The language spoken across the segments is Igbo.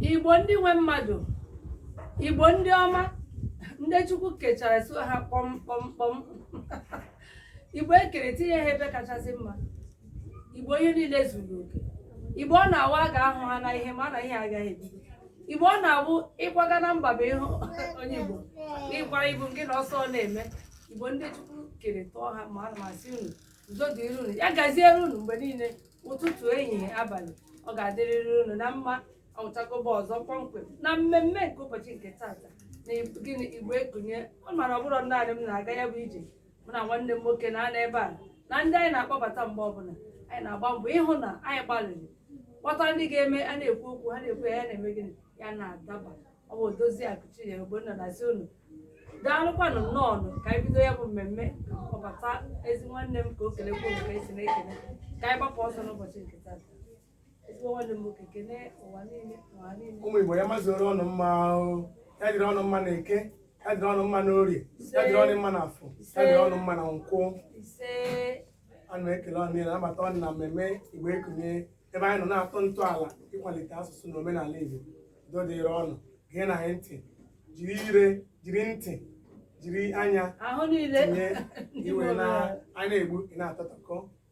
igbo ndị nwe mmadụ igbo ndị ọma ndị chukwu kechara so ha kpọmkpọmkpọm igbo e kere tinye ha ebe kachasị mma igbo ihe niile zuru oke igbo ọ na-awụ a ga-ahụ ha na ihe mara na ihe agaghị ebido igbo ọ na-abụ ị kwaga na mba bụ ịhụ onye igbo ị kwara ibu nke na ọsọ na-eme igbo ndị chukwu kere tụọ ha mma ana m asị unu udo dịrị unu ya gaziere unu mgbe niile ụtụtụ ehihie abalị ọ ga-adịrịrị unu na mma ọchagoba ọzọ kpọmkwem na mmemme nke ụbọchị nke taata na gịnị igbo ekunie ọ mara ọ bụrọ naanị m na-aga ya bụ ije mụ na nwanne m nwoke na-anọ ebe a na ndị anyị na-akpọbata mgbe ọbụla anyị na-agba mbọ ịhụ na anyị gbalịrị kpọta ndị ga-eme a na-ekwu okwu ha na-ekwu ya ya na-eme gịnị ya na-adaba ọ bụ dozie akuchie ogbonna na-asị unu daalụkwanụ nnọọ nụ ka anyị bido ya bụ mmemme kpọbata ezi nwanne m ka o kelekwa unu ka e si na-ekele ka anyị gbapụ ọsọ n'ụbọchị nke taa ụmụ igbo ya mazuru unu mma ahụ ya dịrị unu mma na eke ya dịrị unu mma na orie ya dịrị unu mma na afọ ya dịrị unu mma na nkwọ a na-ekele unu niile nabata unu na mmemme igbo ekunie ebe anyị nọ na-atọ ntọala ịkwalite asụsụ na omenala igbo udo dịrị unu geenụ anyị ntị jiri ire jiri ntị jiri anya tinye ihe anyị na-ekwu ị na-atọtakọ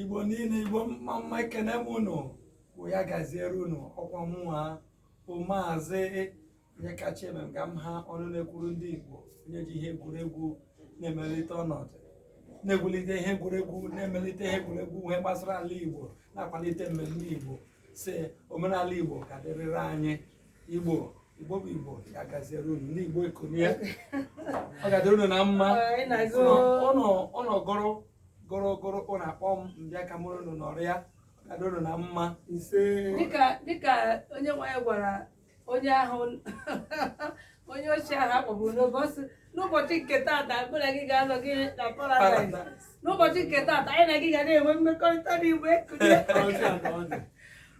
igbo niile igbo mma mma ekene m unu bụ ya gaziere unu ọkwa mụnwa bụ maazị onyekachi eme m ga m ha ọnụ na-ekwuru ndị igbo onye ji ihe egwuregwu na-emelite ọnọdụ na-egwulite ihe egwuregwu na-emelite ihe egwuregwu ihe gbasara ala igbo na-akwalite mmemme igbo sị omenala igbo ka dịrịrị anyị igbo igbo bụ igbo ya gaziere unu ndị igbo ekunie ọ ga-adịrị unu na mma unu gọrọ gọrọ gọrọ unu akpọọ m m bịa ka mụ na unu nọrịa ọ ga-adịrị unu na mma dịka onye nwe anyị gwara onye ahụ onye oshi ahụ a kpọgburu n'ụbọchị n'ụbọchị nke taata mụ na gị ga-anọ gị na paradaịs n'ụbọchị nke taata anyị na gị ga na-enwe mmekọrịta n'igbo ekunie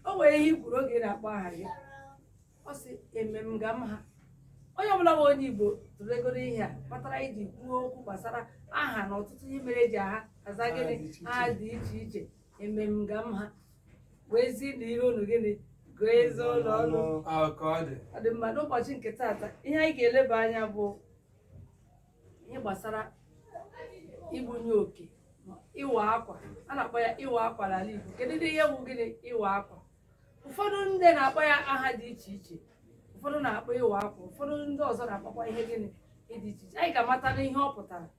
o nwere ihe i kwuru oge ị na-akpọ aha gị ị sị eme m ga m ha onye ọbụla bụ onye igbo tụlegoro ihe a kpatara e ji kwuo okwu gbasara aha na ọtụtụ ihe mere e ji aha aza gịnị aha dị iche iche eme m ga m ha wee zi na ihe unu gịnị gụọ ezi ụlọ ọnụ Ahụ ka ọ dị. ọ dị mma n'ụbọchị nke taata ihe anyị ga-eleba anya bụ ihe gbasara ịbanye oke ma ịwa akwa a na-akpọ ya ịwa akwa n'ala Igbo kedu ndị ihe bụ gịnị ịwa akwa ụfọdụ ndị na-akpọ ya aha dị iche iche ụfọdụ na-akpọ ịwa akwa ụfọdụ ndị ọzọ na-akpọkwa ihe gịnị dị iche iche anyị ga-amata n'ihe ọ pụtara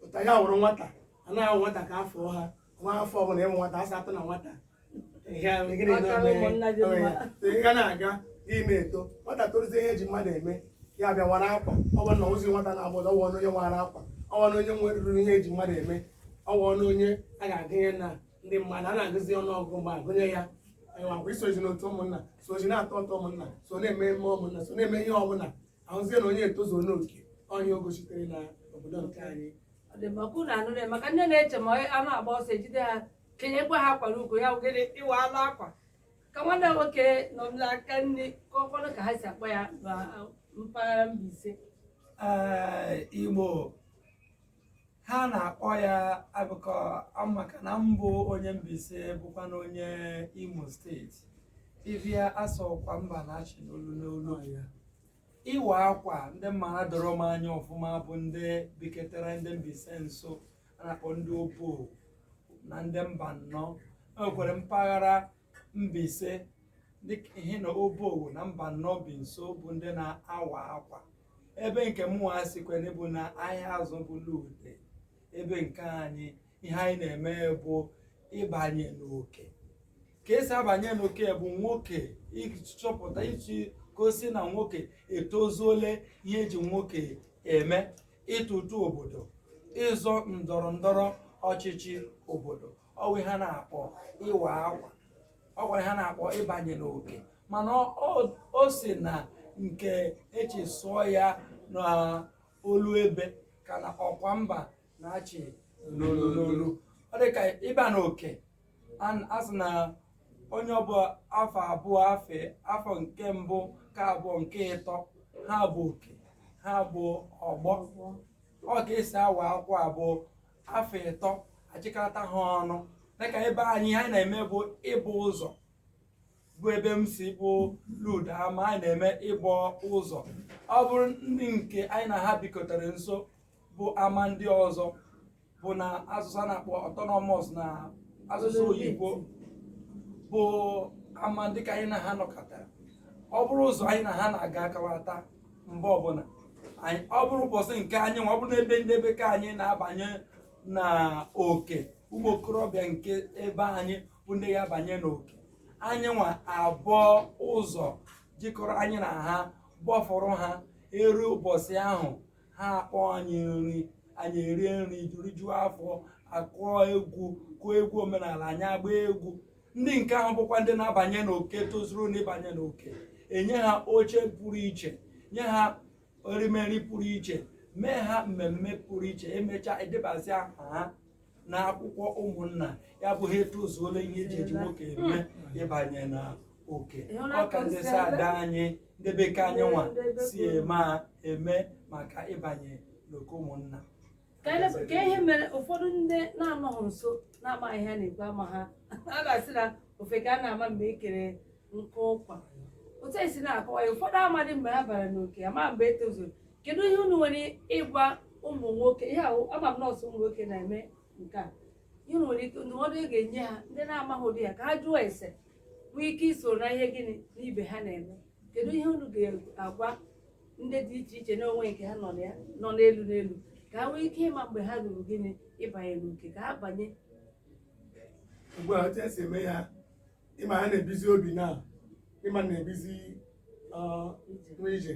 pụta ya wụrụ nwata a na-ahụ nwata ka afọ ha nwa afọ ọbụla ịmụ nwata asa atụ na nwata ga na-aga gị na-eto nwata toruzie ihe eji mmadụ eme ya bịa wara akwa ọ bụrụ na ozi nwata na-agba ọtọ ọwụ onye wara akwa ọwụ onye nwere ruru ihe eji mmadụ eme ọwụ onye a ga-agụnye na ndị mmadụ a na-agụzi ọnụ ọgụgụ mgbe agụnye ya akwa isozi n'otu ụmụnna sozi na-atụ ụtụ ụmụnna so n'ememe ụmụnna so na-eme ihe ọbụla ahụzie na onye etozuo n'oke onye ogo sitere na obodo nke anyị ọ dị mma ka unu nụrụ maka ndị na-eche ma a na-agba ọsọ ejide ha kenyekwa ha akwa n'ukwu ya wụ gịnị ịwa anụ akwa ka nwanne nwoke nọ n'aka nri kọọkwanụ ka ha si akpọ ya na mpaghara Mbaise Ee, Igbo ha na-akpọ ya agụkọ maka na mbụ onye Mbaise bụkwa na onye Imo steeti ịbịa asị ọkwa mba na-achị n'olu n'olu ya ịwa akwa ndị m mara doro m anya ọfụma bụ ndị biketara ndị Mbaise nso a na-akpọ ndị Obowo na ndị Mbano enwekwara mpaghara Mbaise dịka ihe na Obowo na Mbano bi nso bụ ndị na-awa akwa ebe nke mụnwa sikwene bụ na Ahiazu bụ Lude ebe nke anyị ihe anyị na-eme bụ ịbanye n'oke ka esi abanye n'oke bụ nwoke ịchọpụta iji gosi na nwoke etozuole ihe eji nwoke eme ịtụ ụtụ obodo ịzọ ndọrọ ndọrọ ọchịchị obodo ọwụ ihe a na-akpọ ịwa akwa ọwụ ihe a na-akpọ ịbanye n'oke mana ọ- ọ- o si na nke eji sụọ ya na olu ebe ka na ọkwa mba na-achị n'olu n'olu ọ dị ka ịba n'oke an- a sị na onye ọbụla afọ abụọ afe afọ nke mbụ nke abụọ nke ịtọ ha bụ oke ha bụ ọgbọ ọ ka esi awa akwa abụọ afọ ịtọ achịkọta ha ọnụ dịka ebe anyị ihe anyị na-eme bụ ịbọ ụzọ bụ ebe m si bụ Lude ama anyị na-eme ịbọ ụzọ ọ bụrụ ndị nke anyị na ha bikọtara nso bụ ama ndị ọzọ bụ na asụsụ a na-akpọ autonomous na asụsụ oyibo bụ ama ndị ka anyị na ha nọkọtara ọ bụrụ ụzọ anyị na ha na-aga akawata mgbe ọbụla anyị- ọ bụrụ ụbọchị nke anyị nwa ọ bụrụ n'ebe ndị be ke anyị na-abanye na oke ụmụ okorobịa nke ebe anyị bụ ndị ya abanye n'oke anyị nwa abụọ ụzọ jikọrọ anyị na ha gbọfụrụ ha eru ụbọchị ahụ ha akpọ anyị nri anyị erie nri rijuo afọ akụọ egwu kụọ egwu omenala anyị agba egwu ndị nke ahụ bụkwa ndị na-abanye n'oke tozuru n'ịbanye n'oke enye ha oche pụrụ iche nye ha erimeri pụrụ iche mee ha mmemme pụrụ iche emechaa edebazi aha ha na akwụkwọ ụmụnna ya bụ ha etozuola ihe eji eji nwoke eme ịbanye na oke ọka ndị si ada anyị ndị be ke anyị nwa si eme a eme maka ịbanye n'oke ụmụnna ka anyị na- ka ihe mere ụfọdụ ndị na-anọghị nso na-amaghị ihe a na-ekwu ama ha a ga-asị na ofeke a na-ama mgbe e kere nkụ ụkwa otu anyị si na-akọwa ya ụfọdụ amadị mgbe ha bara n'oke ama mgbe e tozuru kedu ihe unu nwere ịgwa ụmụ nwoke ihe ahụ ama m na ọ sọ ụmụ nwoke na-eme nke a ihe unu nwere ike ndụmọdụ ị ga-enye ha ndị na-amaghị ụdị ya ka ha jụọ ese nwee ike iso na ihe gịnị n'ibe ha na-eme kedu ihe unu ga-agwa ndị dị iche iche n'onwe nke ha nọ na ya nọ n'elu n'elu ka ha nwee ike ịma mgbe ha ruru gịnị ịbanye n'oke ka ha banye ugbu a otu esi eme ya ịma ha na-ebizi obi na ịma na-ebizi ọ, nwa ije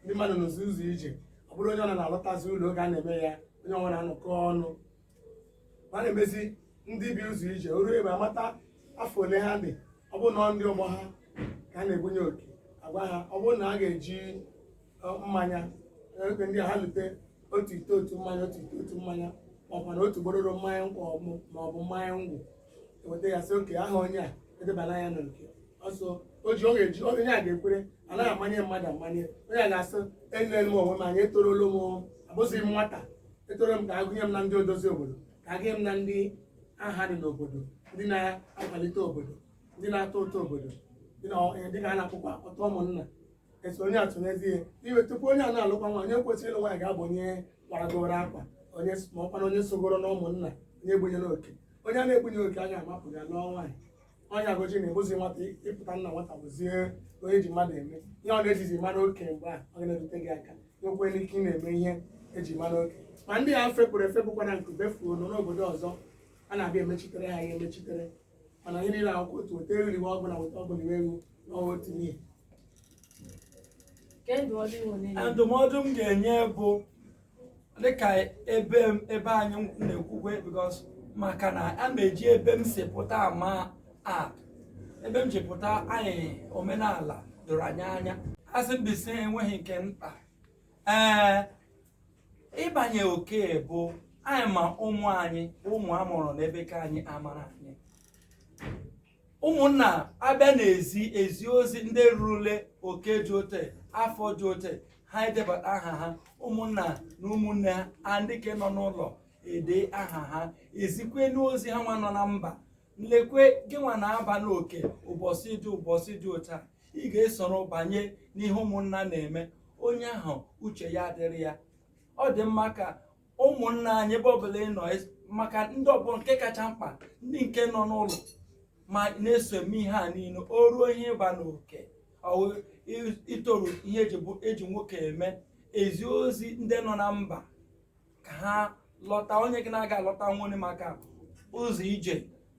ndị mmadụ n'ụzọ ụzọ ije ọ bụrụ onye ọ na na-alọtazi ụlọ oge a na-eme ya onye ọbụla anọkọ ọnụ ma na-emezi ndị bi ụzọ ije o ruo ebe amata afọ ole ha dị ọ bụrụ na ndị ọgbọ ha ka a na-ebunye oke agwa ha ọ bụrụ na a ga-eji mmanya oge ndị ha lute otu ite otu mmanya otu ite otu mmanya maọbụ na otu gbororo mmanya nkwụ maọbụ mmanya ngwọ eweta ya sị oke aha onye a edebala ya n'oke ọsọ o ji oge ji onye a ga-ekwere anaghị amanye mmadụ amanye onye a ga-asị enele m onwe m anya etorolo m abụzighị m nwata etoro m ka agụnye m na ndị odozi obodo ka agụnye m na ndị aha dị n'obodo ndị na-akwalite obodo ndị na-atụ ụtụ obodo ndị na ihe dịka a na-akpọkwa ụtụ ụmụnna esonye atụnyezi ya ihe tupu onye a na-alụkwa nwa onye kwesịrị ịlụ nwaanyị ga-abụ onye karagoro aka onye s- ma ọkwa na onye sogoro na ụmụnna onye ebunyere oke onye a na-ebunye oke anya amapụ ya lụọ nwaanyị onye agụji na-abụzi nwata ịpụta nna nwata bụzie onye ji mmadụ eme ihe ọ na-ejizi mara oke mgbe a ọ ga-erute gị aka nwekwere ike ị na-eme ihe eji mara oke ma ndị a fepụrụ efepụkwa na nkube fuo n'obodo ọzọ a na-abịa emechitere ha ihe emechitere mana ihe niile akwụkwọ otu weta eriri nwa ọgwụ na weta ọgwụ na ewu n'ọnwa otu n'ihi ndụmọdụ m ga-enye bụ dịka ebe ebe anyị na-ekwukwe because maka na a na-eji ebe m si pụta ama a ebe m si pụta anyị omenala doro anyị anya a sị Mbaise enweghị nke mkpa ee ịbanye oke bụ anyị ma ụmụ anyị ụmụ amụrụ n'ebe ke anyị amara anyị ụmụnna abịa na-ezi ezi ozi ndị rurule oke dị ote afọ dị ote ha edebata aha ha ụmụnna na ụmụnne ha ndị ke nọ n'ụlọ ede aha ha ezikwe n'ozi ha nwa nọ na mba nlekwe gị nwa na-aba n'oke ụbọchị dị ụbọchị dị ụta ị ga-esoro banye n'ihe ụmụnna na-eme onye ahụ uche ya adịrị ya ọ dị mma ka ụmụnna anyị ebe ọbụla ị nọ es- maka ndị ọ bụ nke kacha mkpa ndị nke nọ n'ụlọ ma na-eso eme ihe a niile o ruo ihe ịba n'oke ọ wụ i- itoru ihe eji bụ- eji nwoke eme ezi ozi ndị nọ na mba ka ha lọta onye gị na-aga alọtanwuni maka ụzọ ije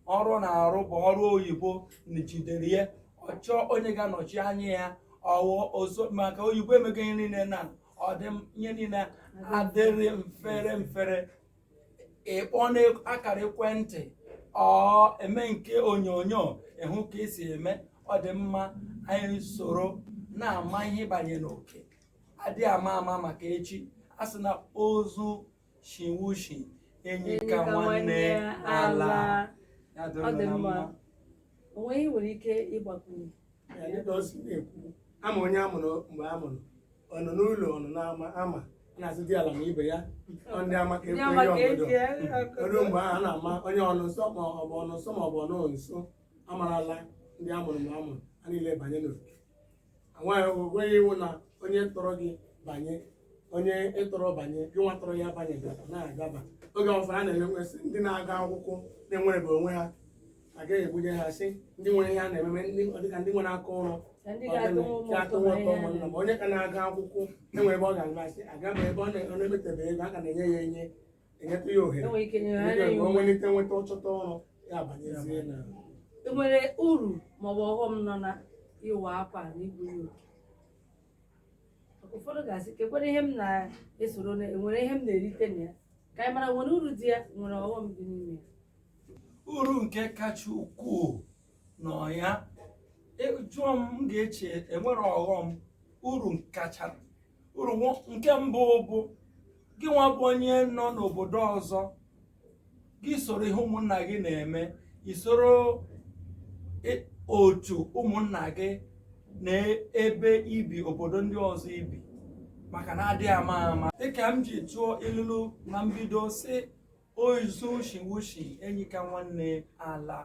ọrụ ọ na-arụ bụ ọrụ oyibo na jidere ya ọ chọọ onye ga-anọchi anya ya ọ wụ ọzọ maka oyibo emego ihe niile na ọ dị m ihe niile adịrị mfere mfere ịkpọ n'akara ekwentị or eme nke onyonyo ịhụ ka esi eme ọ dị mma anyị soro na-ama ihe banye n'oke adị ama ama maka echi a sị na ozu shiwe ishi enyi ka nwanne ala. Ọ dị mma. O nwe ihe ị nwere ike ịgbakwunye. Ya dịka o si na-ekwu ama onye a mụrụ mgbe a mụrụ ọ nọ n'ụlọ ọ nọ n'ama ama a na-asị diala na ibe ya ndị ama ka ekwe obodo ruo mgbe ahụ a na-ama onye ọ nọ nso ma ọ bụ ọ nọ nso ma ọ bụ ọ nọ nso amarala ndị a mụrụ mgbe a mụrụ ha niile banye n'oke nweghị iwu na onye tọrọ gị banye onye ị tọrọ banye gị nwa tọrọ ya banye na-agaba oge ụfọdụ a na-enwesị ndị na-aga akwụkwọ na-enwerebe onwe ha agaghị ebunye ha sị ndị nwere ihe a na-eme eme dịka ndị nwere aka ọrụ atụwa ụtụ ụmụnna ma onye ka na-aga akwụkwọ enwere ebe ọ ga-agasị agaba ebe ọ na-emetebe ego a ka na-enye ya enye enyetụ ya ohere o nwelite nweta ọ chọta ọrụ ya abanyezie na enwere uru maọbụ ọghọm nọ na ịwa akwa na ịbanye oke ụfọdụ ga-asị kekwere ihe m na-esoro na enwere ihe m na-erite na ya ka anyị mara nwere uru dị ya nwere ọghọm dị n'ime ya uru nke kacha ukwuu nọ ya ị jụọ m m ga-eche enwere ọghọm uru kacha uru nke mbụ bụ gị nwa bụ onye nọ n'obodo ọzọ gị soro ihe ụmụnna gị na-eme i soro otu ụmụnna gị na ebe i bi obodo ndị ọzọ i bi maka na a dịghị ama ama dịka m ji tụọ ilulu na mbido sị ozu shiwe ushi enyi ka nwanne alaa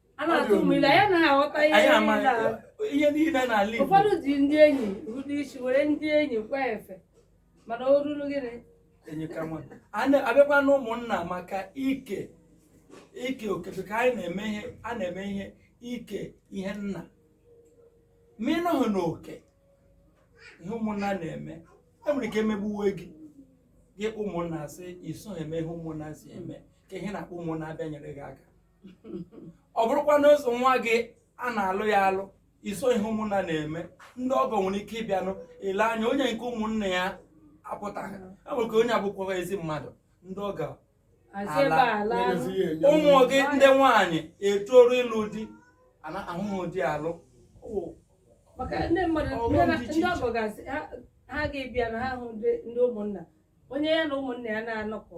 a na-atụ ụmụ ilu anyị anaghị aghọta ihe anyị ama niile a. ihe niile n'ala Igbo ụfọdụ ji ndị enyi rudo isi were ndị enyi kwaa efe mana o ruru gịnị enyi ka nwa A na- abịakwa na ụmụnna maka ike ike oke ka anyị na-eme ihe a na-eme ihe ike ihe nna ma ị nọghị n'oke ihe ụmụnna na-eme e nwere ike e megbuwe gị gị kpọọ ụmụnna sị i soghị eme ihe ụmụnna si eme kee ihe ị na-akpọ ụmụnna abịa nyere gị aka ọ bụrụkwa na eso nwa gị a na-alụ ya alụ i so ihe ụmụnna na-eme ndị ọgọ nwere ike ịbịanụ e lee anya onye nke ụmụnna ya apụtaghị enwere ka onye abụkwa ezi mmadụ ndị ọgọ alaa ụmụ gị ndị nwaanyị etoruo ịlụ di ana ahụhụ di alụ maka ndị mmadụ ndị ọgọ ga-asị ha ga-ebịa na ha hụ ndị ndị ụmụnna onye ya na ụmụnna ya na-anọkọ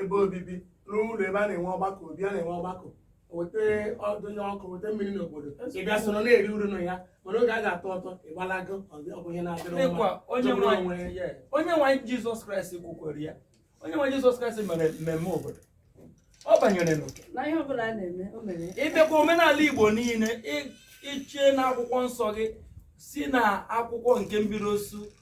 ebe obibi rụọ ụlọ ebe a na-enwe ọgbakọ obi a na-enwe ọgbakọ weta ọdụnye ọkụ weta mmiri n'obodo ị bịa soro na-eri uru na ya mana oge a ga-atụ ụtụ ị gbalaga ọ bụ ihe na-adịrọ mma onye nwe anyị jizọs kraịst kwukwara ya onye nwe anyị jizọs kraịst mere mmemme obodo ọ banyere n'oke ị bịakwa omenala igbo niile dịcha na akwụkwọ nsọ gị si na akwụkwọ nke mbido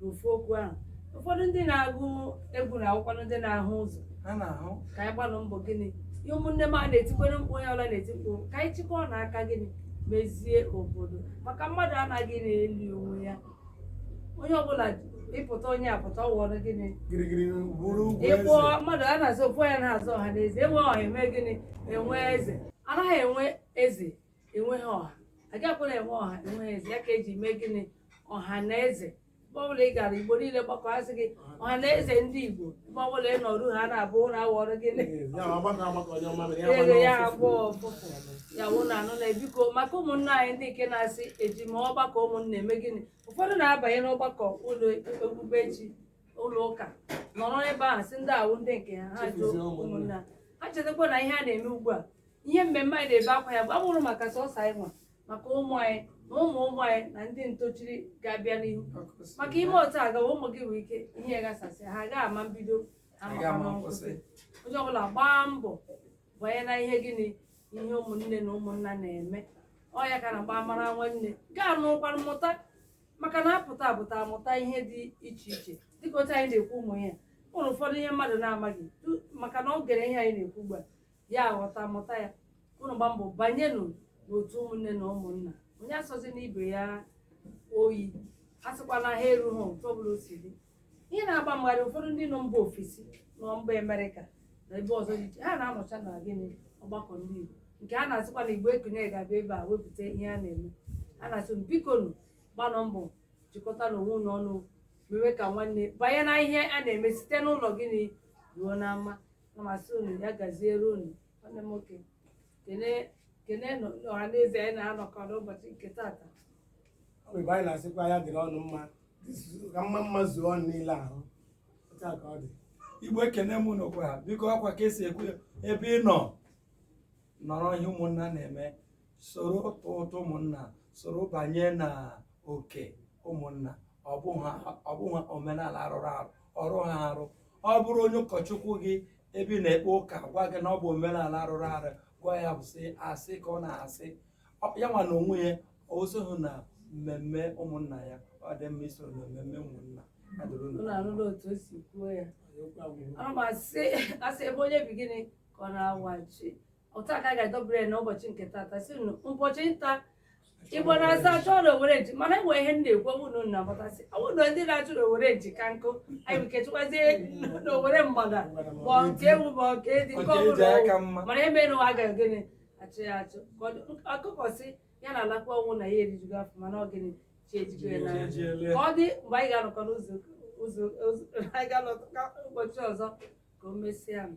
n'ofu okwu ahụ ụfọdụ ndị na-agụ egwu na-ekwukwanụ ndị na-ahụ ụzọ ha na-ahụ ka anyị gbalụ mbọ gịnị ihe ụmụnne m a na-etikwere mkpu onye ọbụla na-eti mkpu ka anyị chịkọọnụ aka gịnị mezie obodo maka mmadụ anaghị na-eli onwe ya onye ọbụla ị pụta onye apụta ọ ghọrọ gịnị gidigidi bụrụ ugwu ị kpọọ eze mmadụ a na-aza ofu onye na-aza ọha na eze e nwee ọha e mee gịnị e nwee eze anaghị enwe eze enweghị ọha agakwaghị enwe ọha enweghị eze ya ka e ji mee gịnị ọha na eze ebe ọbụla ị gara igbo niile gbakọọ a sị gị ọha na eze ndị igbo ebe ọbụla ị nọrụ ha na-abụ ụra awọrọ gịnị ego ya agbọọ ụfụfụ ya wụ na anụ na e biko maka ụmụnna anyị ndị nke na-asị eji m ọgbakọ ụmụnna eme gịnị ụfọdụ na-abanye n'ọgbakọ ụlọ okpukpe chi ụlọ ụka nọrọ ebe ahụ sị ndị a wụ ndị nke ha ha jụọ ụmụnna ha chetakwa na ihe a na-eme ugbu a ihe mmemme anyị na-ebe akwa ya bụ abụrọ maka sọsọ anyị nwa maka ụmụ anyị na ụmụ ụmụ anyị na ndị ntochiri ga-abịa n'ihu maka i mee otu a gawa ụmụ gị nwere ike ihe gasasị ha agaghị ama mbido ama nkwụsị onye ọbụla gbaa mbọ banye na ihe gịnị ihe ụmụnne na ụmụnna na-eme ọ ya ka a na-agba mara nwanne gaa n'ụkwara mmụta maka na a pụta apụta a mụta ihe dị iche iche dịka otu anyị na-ekwu ugbu a o nwere ụfọdụ ihe mmadụ na-amaghị maka na ọ gere ihe anyị na-ekwu ugbu a ya aghọta mụta ya unu gbaa mbọ banyenụ n'otu ụmụnne na ụmụnna onye asọzina ibe ya oyi a sịkwana ha erughị otu ọbụla o si dị ihe na-agba mgharị ụfọdụ ndị nọ mba ofesi nọ mba amerịka na ebe ọzọ dị iche ha na-anọcha na gịnị ọgbakọ ndị igbo nke a na-asịkwa na igbo ekunie ga-abịa ebe a wepụta ihe a na-eme a na-asị biko nụ gbaanụ mbọ jikọtanụ onwe unu ọnụ mewe ka nwanne banye na ihe a na-eme site n'ụlọ gịnị ruo n'ama na m asị unu ya gaziere unu nwanne m nwoke kene kene ọha na eze anyị na-anọkọ n'ụbọchị nke tata ọ bụ ebe anyị na-asịkwa ya dịrị unu mma ka mma mma zuo unu niile ahụ otu a ka ọ dị igbo ekene m unu kwa biko akwa ka e si ekwu ebe ị nọ nọrọ ihe ụmụnna na-eme soro tụọ ụtụ ụmụnna soro banye na oke ụmụnna ọ bụghị ha- ọ bụghị omenala arụrụ arụ ọ rụghị arụ ọ bụrụ onye ụkọchukwu gị ebe ị na-ekpe ụka gwa gị na ọ bụ omenala arụrụ arụ gwa ya bụ sị asị ka ọ na-asị Ọ- ya nwa na onwe ya o soghị na mmemme ụmụnna ya ọ dị mma isoro na mmemme ụmụnna Ya dịrị unu Unu anụla otu o si kwuo ya. Ana m asị ebe onye bi gịnị ka ọ na-awachi otu a ka a ga-edobere ya n'ụbọchị nke tata sị unu ụbọchị nta igbo na-asị a chụọ na owere nchi mana enwe ihe m na-ekwu ọ bụ na unu na-amatasị ọ bụ na ndị na-achụ na owere nchi ka nke anyị bụ ka e chụkwazie na owere mgbada ma nke ewu ma nke edi nke Nke e ji ọbụla aka mma. mana ebe na ụwa agaghị gịnị achụ ya achụ Ka ọ dị- ọkụkọ sị ya na-alakpu ọ bụghị na ya erijugo afọ mana ọ gịnị chi ejigo ya n'anya ka ọ dị mgbe anyị ga-anọkọ n'ụzọ ụzọ ụzọ- anyị ga-anọkọ ụbọchị ọzọ ka o mesịa nụ.